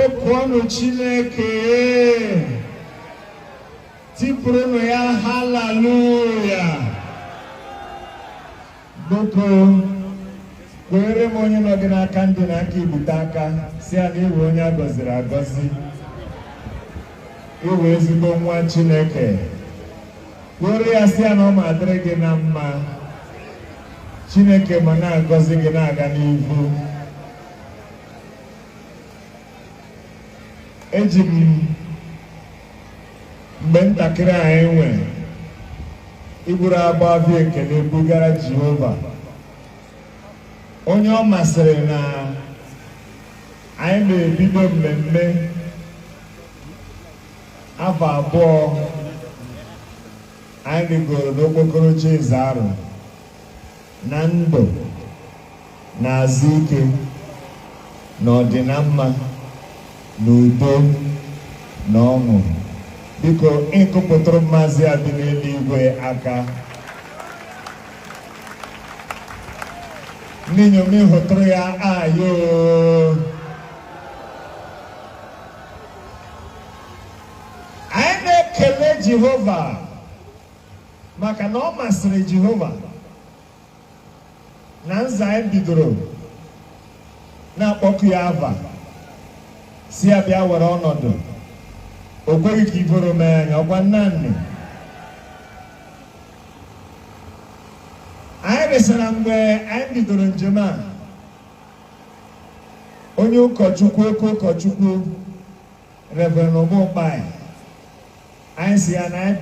Okuọnụ Chineke tipụrụnụ ya haleluya biko kweere m onye nọ gị n'aka ndị na aka ibute aka sị ya na ị wụ onye a gọziri agọzi ị wụ ezigbo nwa Chineke kwere ya sị ya na ọ ma adịrị gị na mma Chineke ma na-agọzi gị na-aga n'ihu eji m mgbe ntakịrị anyị nwere iburu abụ abụ ekele bugara Jehova onye ọ masịrị na anyị na-ebido mmemme afọ abụọ anyị rịgoro n'okpokoro oche Eze Arọ na ndụ na azụ ike na ọdịnamma na udo na ọṅụ biko ịkụpụtụrụ Maazị a dị n'eluigwe aka ndị inyom ịhụtụrụ ya ayo anyị na-ekele Jehova maka na ọ masịrị Jehova na nza anyị bidoro na-akpọku ya ava sị ya bịa were ọnọdụ o kweghị ka iboro mee anyị ọkwa nnanne anyị resịra mgbe anyị bidoro njem a onye ụkọchukwu oke ụkọchukwu Reverend Uma Ukpai anyị sị ya na anyị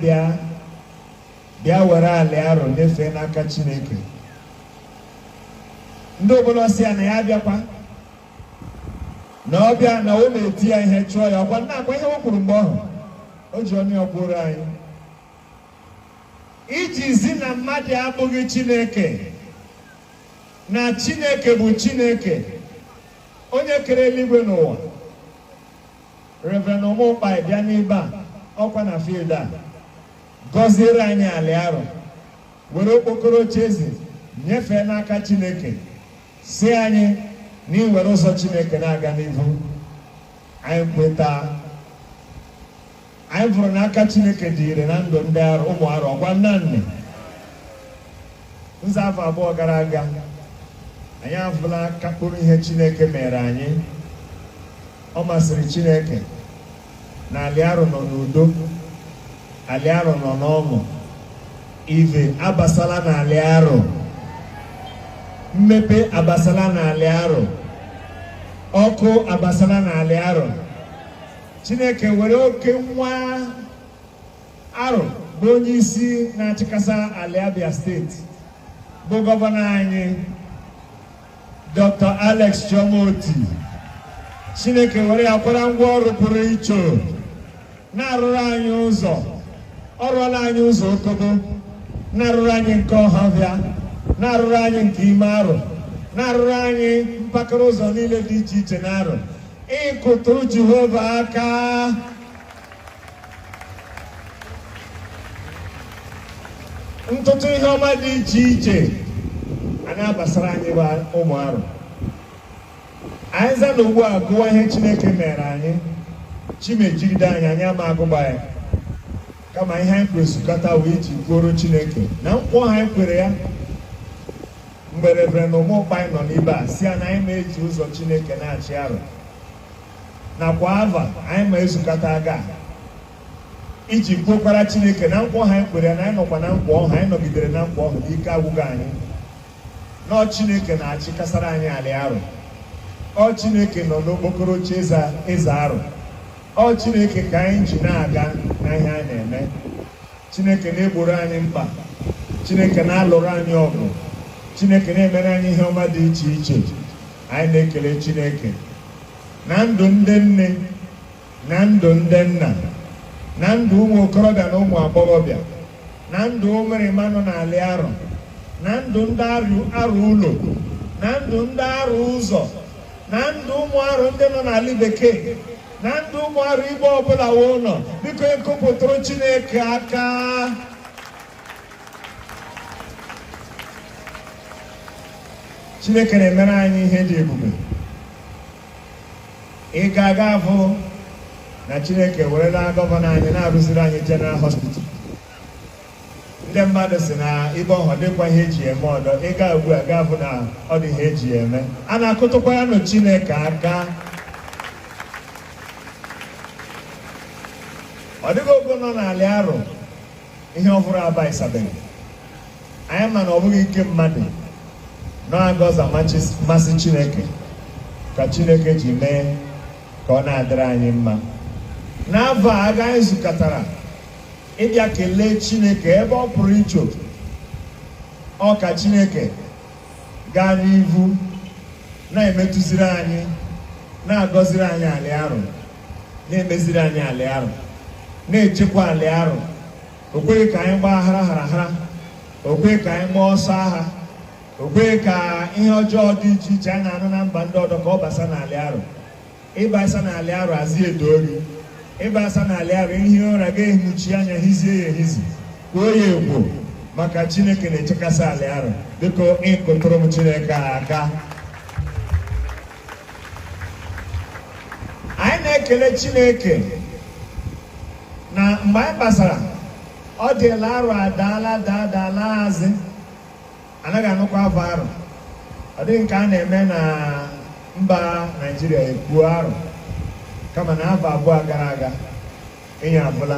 bịa were alị Arọ nyefee n'aka Chineke ndị obodo sị ya na ya abịakwa na ọ bịa na o na-eti ya ihe chụọ ya ọkwa nnaa kwa ihe o kwuru mgbe ọhụ o ji ọnụ ya kwuoro anyị iji zi na mmadụ abụghị Chineke na Chineke bụ Chineke onye kere eluigwe na ụwa Reverend Uma Ukpai bịa n'ebe a ọkwa na field a gọziere anyị alị Arọ were okpokoro oche eze nyefee n'aka Chineke sị anyị na i were ụzọ Chineke na-aga n'ihu anyị kweta anyị fụrụ na aka chineke dị ire na ndụ ndị arụ ụmụ arụ ọgwa nnanne nza afọ abụọ gara aga anyị afụla aka mkpụrụ ihe chineke mere anyị ọ masịrị chineke na alị arụ nọ n'udo alị arụ nọ n'ọṅụ ive abasala na alị arụ mmepe abasala na alị arụ ọkụ abasala na alị arụ Chineke were oke nwa arụ bụ onye isi na-achịkasa alị Abia steeti bụ gọvanọ anyị Dr. Alex Chioma Otti Chineke were ya kwara ngwa ọrụ pụrụ iche na-arụrụ anyị ụzọ ọ rụọla anyị ụzọ okobo na-arụrụ anyị nke ọhafịa na-arụrụ anyị nke ime arụ na-arụrụ anyị mpakara ụzọ niile dị iche iche na arụ ịkụtụ Jehova aka ntụtụ ihe ọma dị iche iche a na-abasara anyị bụ ụmụ arụ anyị za na ugbu a gụwa ihe Chineke mere anyị chi ma ejigide anyị anyị ama agụgba ya kama ihe anyị kworo zukọta wụ iji kwuoro Chineke na nkwa ọhụ anyị kwere ya mgbe Reverend Uma Ukpai nọ n'ibe a sị ya na anyị ma eji ụzọ Chineke na-achị arụ na kwa ava anyị ma ezukọta aga iji kwukwara Chineke na nkwa ọhụ anyị kwere ya na anyị nọkwa na nkwa ọhụ anyị nọgidere na nkwa ọhụ n'ike agwụghị anyị na ọ Chineke na-achịkasara anyị alị arụ ọ Chineke nọ n'okpokoro oche eze arụ ọ Chineke ka anyị ji na-aga na ihe anyị na-eme Chineke na-egboro anyị mkpa Chineke na-alụrụ anyị ọgụ Chineke na-emere anyị ihe ọma dị iche iche anyị na-ekele Chineke na ndụ ndị nne na ndụ ndị nna na ndụ ụmụ okorobịa na ụmụ agbọghọbịa na ndụ ụmụrịma nọ na alị arụ na ndụ ndị arụ ụlọ na ndụ ndị arụ ụzọ na ndụ ụmụ arụ ndị nọ na alị bekee na ndụ ụmụ arụ ibe ọbụla wo nọ biko kụpụtụrụ chineke aka chineke na-emere anyị ihe dị ebube ị ga-aga afụ na chineke werela gọvanọ anyị na-arụziri anyị general hospital ndị mmadụ si na ibe ọhụ dịkwa ihe eji eme ọdọ ịga ugbu a ga-afụ na ọ dị ihe eji eme a na-akụtụkwa ya nụ Chineke aka ọ dịghị ogo nọ n'alị arụ ihe ọhụrụ abaịsabeghị anyị ma na ọ bụghị ike mmadụ na-agọza mmasị Chineke ka Chineke ji mee ka ọ na-adịrị anyị mma n'afọ a ka anyị zukọtara ịbịa kelee Chineke ebe ọ pụrụ iche ọ ka Chineke gaa n'ihu na-emetụziri anyị na-agọziri anyị alị arụ na-emeziri anyị alị arụ na-echekwa alị arụ o kweghị ka anyị gbaa hara hara hara o kweghị ka anyị gbaa ọsọ agha o kweghị ka ihe ọjọọ dị iche iche a na-anụ na mba ndị ọdọ ka ọ basa n'alị arụ ịbasa n'alị arụ azị edo ori ịbasa n'alị arụ ihi ụra ga-ehinuchi anya hizie ya ehizi kwoo ya ekwo maka chineke na-echekasị alị arụ biko ịkụtụrụ m chineke a aka anyị na-ekele chineke na mgbe anyị gbasara ọ dịla arụ adaala daa adaala azị anaghị anụkwa afa arụ ọ dịghị nke a na-eme na mba naijiria e kwuo arụ kama na afọ abụọ gara aga ịnya abụla